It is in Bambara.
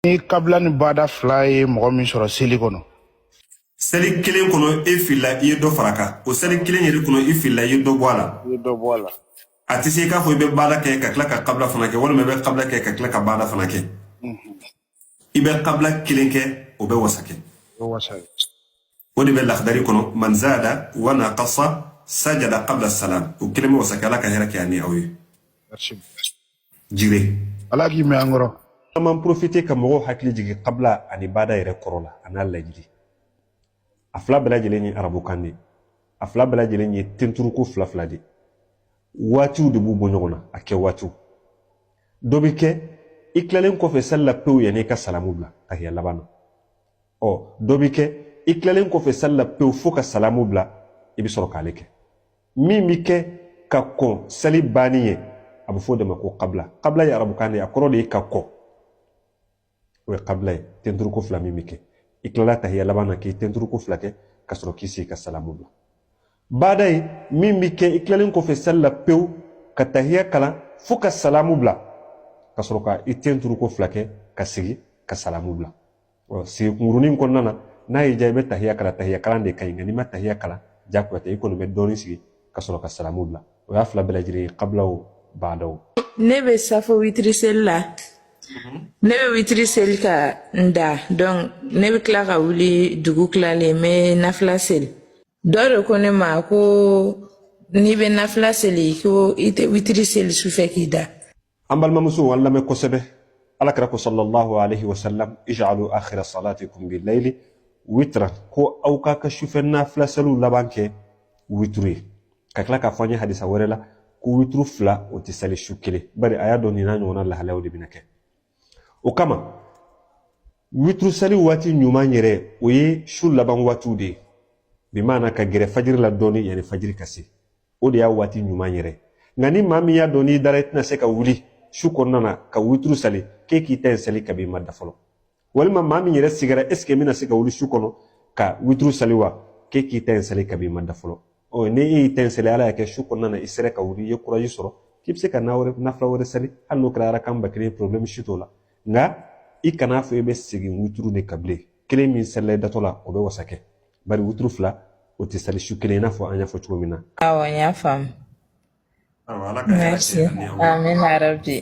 ni kabila ni bada fila ye mɔgɔ min sɔrɔ seli kɔnɔ seli kelen kɔnɔ e filila i ye dɔ fara kan o seli kelen yɛrɛ kɔnɔ i filila i ye dɔ bɔ a la i ye dɔ bɔ a la a tɛ se i k'a fɔ i bɛ bada kɛ ka tila ka kabila fana kɛ walima i bɛ kabila kɛ ka tila ka bada fana kɛ i bɛ kabila kelen kɛ o bɛ wasa kɛ o de bɛ lahdari kɔnɔ man zada wa naqasa sajada qabla salam o kelen bɛ wasa kɛ ala ka hɛrɛ kɛ an ni aw ye jire ala k'i mɛn an kɔrɔ an man profite ka mɔgɔw hakili jigin kabla ani baada yɛrɛ kɔrɔ la a n'a lajini a fila bɛɛ lajɛlen ye arabukan de a fila bɛɛ lajɛlen ye tenturuko fila fila de waatiw de b'u bɔ ɲɔgɔn na a kɛ waatiw dɔ bɛ kɛ i tilalen kɔfɛ sali la pewu yanni i ka salamu bila tahiya laban na ɔ dɔ bɛ kɛ i tilalen kɔfɛ sali la pewu fo ka salamu bila i bɛ sɔrɔ k'ale kɛ min bɛ kɛ ka kɔn sali banni ɲɛ a bɛ fɔ o de ma ko kabila kabila ye arabukan de ye a kɔrɔ de ye ka kɔn o ye kabila ye tenturuko fila min bɛ kɛ i tilala tahiya laban na k'i tenturuko fila kɛ ka sɔrɔ k'i sigi ka salamu bila baada ye min bɛ kɛ i tilalen kɔfɛ sali la pewu ka tahiya kalan fo ka salamu bila ka sɔrɔ ka i tenturuko fila kɛ ka sigi ka salamu bila ɔ sigi kunkurunin kɔnɔna na n'a y'i diya i bɛ tahiya kalan tahiya kalan de ka ɲi nka n'i ma tahiya kalan jagoya tɛ i kɔni bɛ dɔɔnin sigi ka sɔrɔ ka salamu bila o y'a fila bɛɛ lajɛlen ye kabila o baada o ne bɛ safo witiri seli la ne bɛ witiri seli ka n da donc ne bɛ tila ka wuli dugu tilalen n bɛ nafila seli dɔ de ko ne ma ko n'i bɛ nafila seli ko i tɛ witiri seli sufɛ k'i da an balimamusow an lamɛn kosɛbɛ alakira ko sallallahu alaihi wasallam ij'alu akhira salatikum bil layli witra ko aw k'a ka sufɛ nafila seliw laban kɛ witru ye ka tila k'a fɔ an ye hadisa wɛrɛ la ko witru fila o tɛ sali su kelen bari a y'a dɔn nin n'a ɲɔgɔnna lahalayaw de bɛna kɛ o kama witru sali waati ɲuman yɛrɛ o ye su laban waatiw de ye bi maana ka gɛrɛ fajiri la dɔɔni yanni fajiri ka se o de y'a waati ɲuman yɛrɛ nka ni maa min y'a dɔn n'i dara i tɛna se ka wuli su kɔnɔna na ka witru sali k'e k'i ta in sali kabi i ma da fɔlɔ walima maa min yɛrɛ sigara esike n bɛna se ka wuli su kɔnɔ ka witru sali wa k'e k'i ta in sali kabi i ma da fɔlɔ ɔ ni e y'i ta in sali ala y'a kɛ su kɔnɔna na i sera ka wuli i ye kuraji sɔrɔ k'i bɛ se ka nafila wɛrɛ sali hali n'o kɛra arakan ba kelen ye porobilɛmu si t'o la nka i kan'a fɔ i bɛ segin witru de kan bilen kelen min salila i datɔ la o bɛ wasa kɛ bari wuturu fila o tɛ sali su kelen i n'a fɔ an y'a fɔ cogo min na awɔ n y'a faamu Merci. Amin ya rabbi.